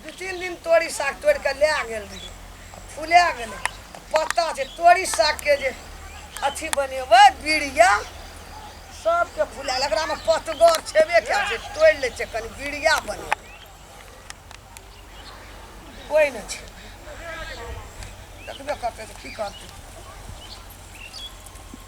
दू तीन दिन तोरी साग तोड़ि कऽ लए गेल रही आ फुला गेलै आ पत्ता छै तोरी सागके जे अथी बनेबै बीड़िया सबके फुलायल एकरामे पतगर छेबे कयल छै तोड़ि लै छै कनि बीड़िया बनेबै कोइ नहि छै देखबे करतै तऽ की करतै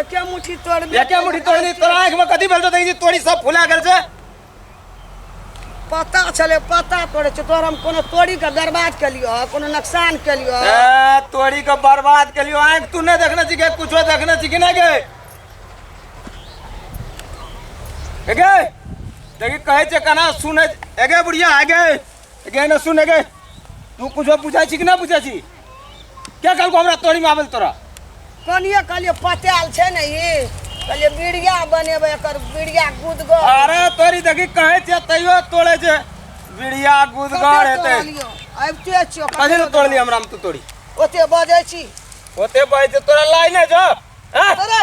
एके मुट्ठी तोड़ में एके मुट्ठी तोड़ दी तोरा आँख में कथी भेल तो देखी तोरी सब फुला गेल छै पता छले पता तोड़े छै तोर हम कोनो तोड़ी के बर्बाद के लियो कोनो नुकसान के लियो ए, तोरी के बर्बाद के लियो आँख तू नहीं देखने छी के कुछो देखने छी कि नहीं गे ए गे देखी कहे छै कना सुने ए गे बुढ़िया आ गे ए गे ना सुने गे तू कुछो पूछा छी कि ना पूछा छी के कहलको हमरा तोरी में आबे तोरा कनिए कहलिए पताल छै ने ई कहलिए बीड़िया बनेबै एकर बीड़िया गुदगर अरे तोरी देखी कहे छे तैयो तोड़े छे बीड़िया गुदगर हेते आबिते छियो कथी ले तोड़ली हमरा में तू तोरी ओते बजै छी ओते बजै तोरा लाई ने जब हैं? अरे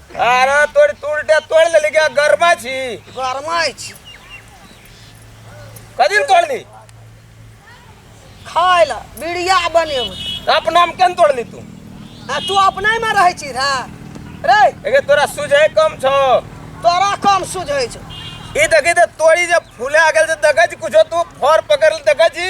अरे तोड़ तुरटे तोड़ ले गया गरमा छी गरमाइ छी कदिन तोड़ ली खाय लए बिड़िया बनेबै अपना में केन तोड़ ली तू आ तू अपने में रहै छी रे रे एगे तोरा सुझे कम छो तोरा कम सुझै छौ ई देखी ते तोड़ी जब फूले आ गेल से देखै छी कुछो तू फर पकड़ ले देखै छी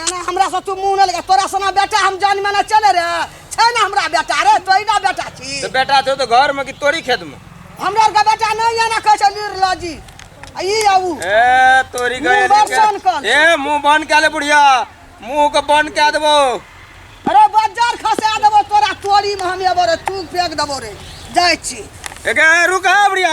एना हमरा से तू मुंह न लगा तोरा सना बेटा हम जान में न चले रे छै ना हमरा बेटा रे तोही ना बेटा छी तो बेटा छो तो घर में कि तोरी खेत में हमरा आर के बेटा नहीं आना कहै छै निर्लजी आ ई आऊ ए तोरी मुंह गए बड़ सन कल। ए मुंह बंद कर ले बुढ़िया मुंह को बंद कर देबो अरे बाजार खसा देबो तोरा तोरी में हम एबो रे तू फेंक देबो रे जाइ छी एक रुका बुढ़िया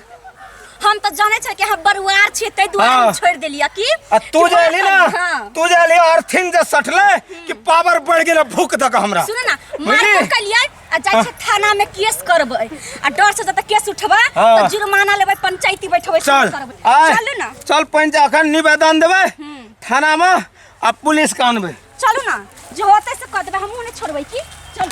हम तो जाने छे कि हम बरुआर छे ते दुआर हाँ। हम छोड़ देलिया की आ तू जे एली ना हाँ। तू जे एली अर्थिंग जे सटले कि पावर बढ़ गेल भूख दक हमरा सुनो ना मार बुझली? को कलिया आ जाय छे थाना में केस करबै आ डर से जब केस उठबा हाँ। तो जुर्माना लेबै पंचायती बैठबै चल करबै आय चलू ना चल पंच अखन निवेदन देबै थाना में आ पुलिस के अनबै चलू ना जो होतै से कह देबै हमहूँ नहि छोड़बै की चलू